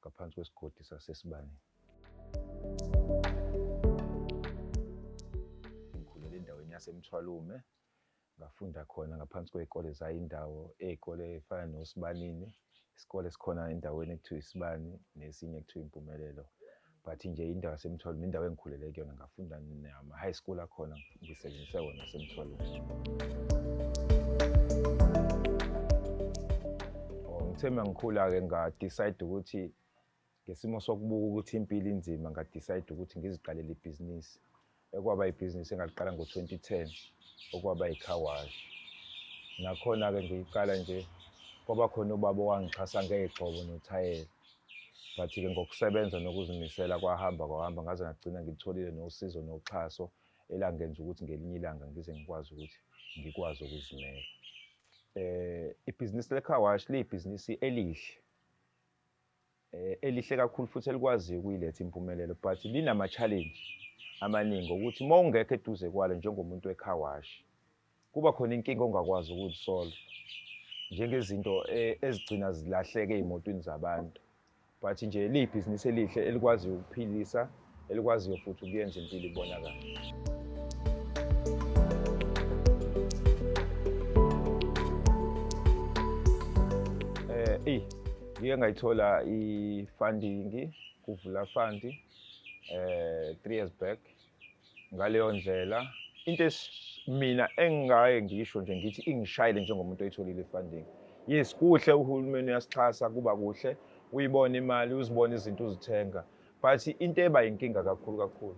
ngaphansi kwesigodi saseSibanini. Ngikhulele endaweni yaseMthwalume ngafunda khona ngaphansi kwey'kole zayindawo ey'kole ey'fana noSibanini isikole esikhona endaweni ekuthiwa iSibani nesinye ekuthiwa iMpumelelo but nje indawo yasemthwalo nendawo engikhulele kuyona ngafunda nama-high school akhona ngisebenzise wona asemthwalweni oh, ngithe uma ngikhula-ke ngadicide ukuthi ngesimo sokubuka ukuthi impilo inzima ngadicide ukuthi ngiziqalele ibhizinisi ekwaba ibhizinisi engaliqala ngo-2010 okwaba yikhawashi nakhona-ke ngiyiqala nje kwaba khona ubaba owangixhasa ngey'gxobo nothayela but-ke ngokusebenza nokuzimisela kwahamba kwahamba ngaze ngagcina ngilitholile nosizo noxhaso elangenza ukuthi ngelinye ilanga ngize ngikwazi ukuthi ngikwazi ukuzimela um ibhizinisi lekhawashi liyibhizinisi elihle eh, elihle kakhulu futhi elikwaziyo ukuyiletha impumelelo but linama-challenge amaningi okuthi uma ungekho eduze kwalo njengomuntu wekhawashi kuba khona inkinga ongakwazi ukuzisolve njengezinto eh, ezigcina zilahleke ey'motweni zabantu but nje liyibhizinisi elihle elikwaziyo ukuphilisa elikwaziyo futhi ukuyenza impilo ibonakala eh eyi ngike ngayithola i-funding kuvula fund eh 3 years back ngaleyo ndlela into mina engingaye ngisho nje ngithi ingishayile njengomuntu oyitholile i-funding yes kuhle uhulumeni uyasixhasa kuba kuhle uyibona imali uzibona izinto uzithenga but into eba yinkinga kakhulu kakhulu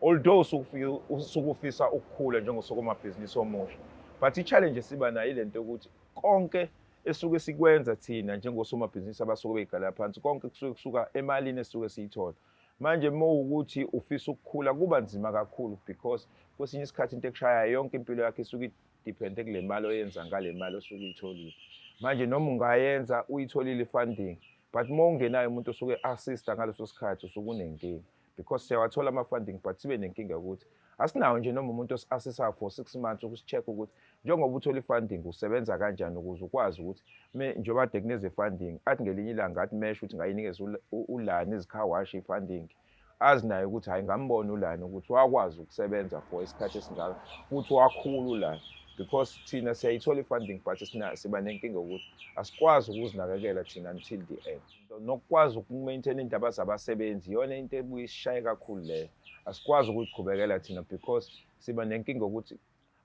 although usukufisa ukukhula njengosomabhizinisi omusha but i-challenge esiba nayo ile nto yokuthi konke esuke sikwenza thina njengosomabhizinisi abasuke beyigalela phansi konke kusuke kusuka emalini esuke siyithola manje uma ukuthi ufisa ukukhula kuba nzima kakhulu because kwesinye isikhathi into ekushayayo yonke impilo yakhe isuke idepende kule mali oyenza ngale mali osuke uyitholile manje noma ungayenza uyitholile i-funding but uma ungenayo umuntu osuke assista ngaleso sikhathi usuke unenkinga because siyawathola ama-funding but sibe nenkinga yokuthi asinawo nje noma umuntu osi-assisayo for six months ukusi-check ukuthi njengoba uthole i-funding usebenza kanjani ukuze ukwazi ukuthi njengoba de kuneze-funding athi ngelinye ilanga athi mesho ukuthi ngayinikeza ulani izikhawashi i-funding-ke azi naye ukuthi hayi ngambona ulani ukuthi wakwazi ukusebenza for isikhathi esingaka futhi wakhulu ulani because thina siyayithola i-funding but siba nenkinga yokuthi asikwazi ukuzinakekela thina until the end nokukwazi ukumaintaina iy'ndaba zabasebenzi iyona into ebuye isishaye kakhulu leyo asikwazi ukuyiqhubekela thina because siba nenkinga yokuthi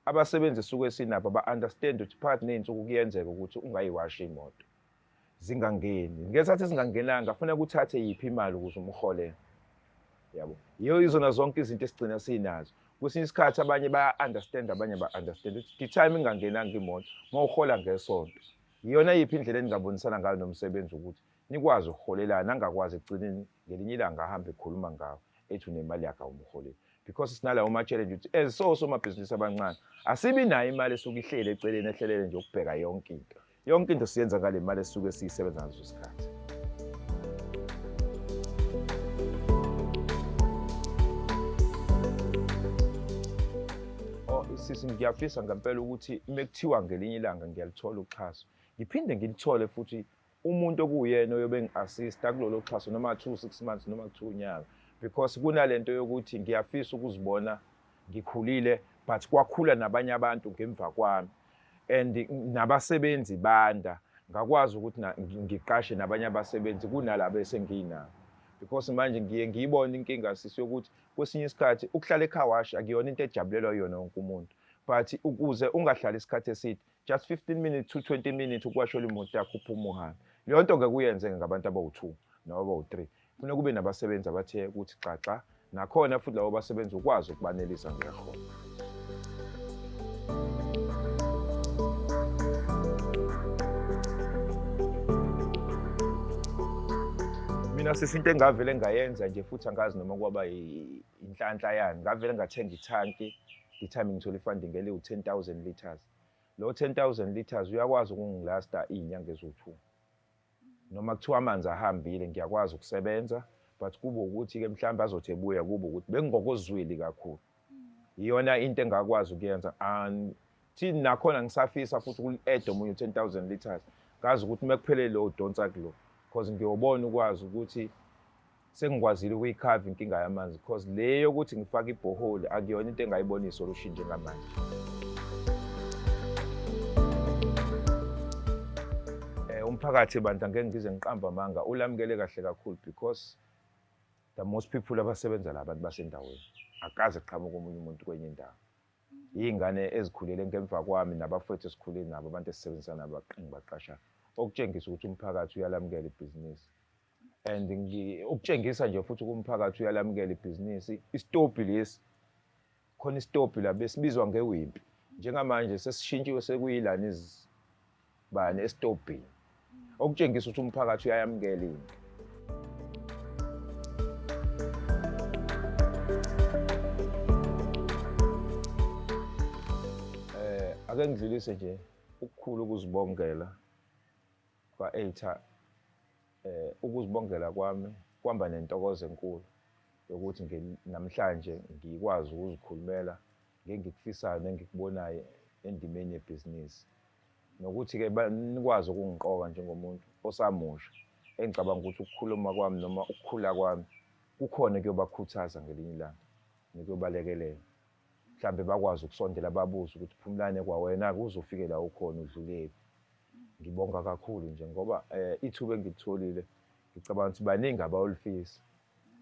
abasebenzi suke sinabo ba-understand ukuthi phakathi ney'nsuku kuyenzeka ukuthi ungayiwashi imoto zingangeni ngesikhathi ezingangenanga ngafuna kuthathe yiphi imali ukuze umhole yabo yiyo izona zonke izinto esigcina sinazo kwesinye isikhathi abanye baya-understand abanye ba-understand ukuthi the time ingangenanga imoto uma uhola ngesonto yiyona yiphi indlela eningabonisana ngayo nomsebenzi ukuthi nikwazi ukuholelana angakwazi ekugcineni ngelinye ilanga ahambe ekhuluma ngawo ethi unemali yakhe awumholeli because sinalawo ma-challenge ukuthi as so somabhizinisi abancane asibi nayo imali esuke ihleli eceleni ehlelele nje ukubheka yonke into yonke into siyenza ngale mali esuke siyisebenza ngaso isikhathi oh, sisi ngiyafisa ngempela ukuthi uma kuthiwa ngelinye ilanga ngiyalithola uxhaso ngiphinde ngilithole futhi umuntu okuyena oyobe ngi-assista kulolo xhaso noma two six months noma two unyaka because kunale nto yokuthi ngiyafisa ukuzibona ngikhulile but kwakhula nabanye abantu ngemva kwami and nabasebenzi banda ngakwazi ukuthi ngiqashe nabanye abasebenzi kunalabo esenginabo because manje ngiye ngiyibone inkinga sisi yokuthi kwesinye isikhathi ukuhlala ekhawashi akuyona into ejabulelwa yona wonke umuntu but ukuze ungahlali isikhathi eside just 15 minutes to 20 minutes ukuwashela imoto yakho uphuma uhambe leyo nto ngeke uyenze ngabantu abawu-two noma abawu-three Kufuneka kube nabasebenzi abathe ukuthi xaxa nakhona futhi labo basebenzi ukwazi ukubanelisa ngeholo. mina sisi into engavele ngayenza nje futhi angazi noma kwaba inhlanhla yani ngavele ngathenga ithanki ngithami ngithola ifunding eliwu-ten thousand litres lo ten thousand litres uyakwazi ukungilasta iy'nyanga eziwu-two noma kuthiwa amanzi ahambile ngiyakwazi ukusebenza but kube ukuthi-ke mhlawumbe azothi ebuya kube ukuthi bengingokozwili kakhulu iyona into engakwazi ukuyenza and thini nakhona ngisafisa futhi ukuli-ede omunye u-ten thousand litres kazi ukuthi uma kuphelele udonsa kulo because ngiyobona ukwazi ukuthi Sengikwazile ukuyikhava inkinga yamanzi because le yokuthi ngifake ibhoholi akuyona into engayibona isolution njengamanje. Eh, umphakathi bandla ngeke ngize ngiqamba amanga ulamukele kahle kakhulu because the most people abasebenza la bantu basendaweni akaze qhamuka omunye umuntu kwenye indawo iy'ngane ezikhulele ngemva kwami nabafowethu esikhule nabo abantu esisebenzisana nabo baqingi baqashana okutshengisa ukuthi umphakathi uyalamukela ibhizinisi and ukutshengisa nje futhi kumphakathi uyalamukela ibhizinisi isitobhi lesi khona isitobhi la besibizwa ngewimpi njengamanje sesishintshiwe sekuyilana izibani esitobhini okutshengisa ukuthi umphakathi uyayamukela into ake ngidlulise nje ukukhulu ukuzibongela Kwa-ATAR eh, ukuzibongela kwami kwamba nentokozo enkulu yokuthi namhlanje ngikwazi ukuzikhulumela ngengikufisayo nengikubonayo endimeni yebhizinisi nokuthi-ke nikwazi ukungiqoka njengomuntu osamusha engicabanga ukuthi ukukhuluma kwami noma ukukhula kwami kukhona kuyobakhuthaza ngelinye ilanga nikuyobalekelela mhlambe bakwazi ukusondela babuze ukuthi phumlane kwawena ke uzofike la ukhona udlulephi ngibonga kakhulu nje ngoba eh, ithuba engilitholile ngicabanga ukuthi baningi abayolifisa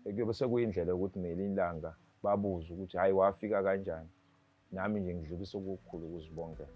kuyobe sekuyindlela yokuthi ngelinye ilanga babuze ukuthi hhayi wafika kanjani nami nje ngidlulisa okukhulu ukuzibongela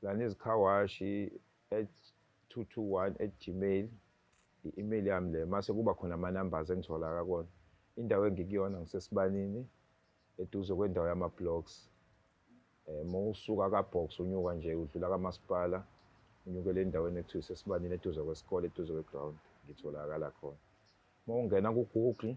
Silaniz Khawashi at 221 at gmail i-email yami le mase kuba khona ama-numbers engitholaka kona indawo engikuyona ngisesibanini eduze kwendawo yama-blocks um eh, uma usuka ka-box unyuka nje udlula kamasipala unyukele endaweni ekuthiwa isesibanini eduze kwesikole eduze kwe-ground ngitholakala khona uma ungena ku-google